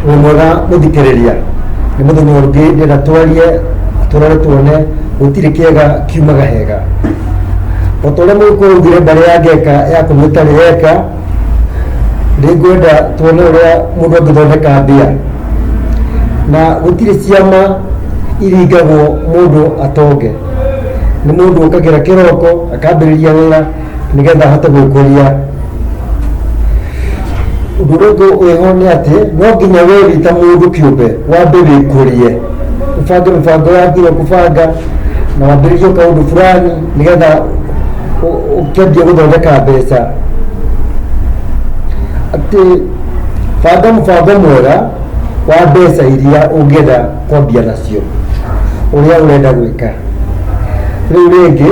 wĩ mwega gũthikĩrĩria nĩ mũthenya ũngĩ ndĩra twarie tũrore tuone gũtirĩ kĩega kiumaga hega o ta ũrĩa mũkũrugire mbarĩ ya ngeka ya kũnyua ĩtarĩ yeka nĩ ngwenda tuone ũrĩa mũndũ angĩthondeka mbia na gũtirĩ ciama iringagwo mũndũ atonge nĩ mũndũ ũkagĩra kĩroko akambĩrĩria wĩra nĩgetha ahote gwĩkũria ũndũ ũngĩ wĩho nĩ atĩ no nginya weri ta mũndũ kĩũmbe wambe wĩkũrie ũbange mĩbango yaku ĩrĩa ũkũbanga na wambĩrĩrie kaũndũ fulani nĩgetha ũ- ũkĩambie gũthondeka mbeca atĩ banga mũbango mwega wa mbeca iria ũngĩenda kwambia nacio ũrĩa ũrenda gwĩka rĩu rĩngĩ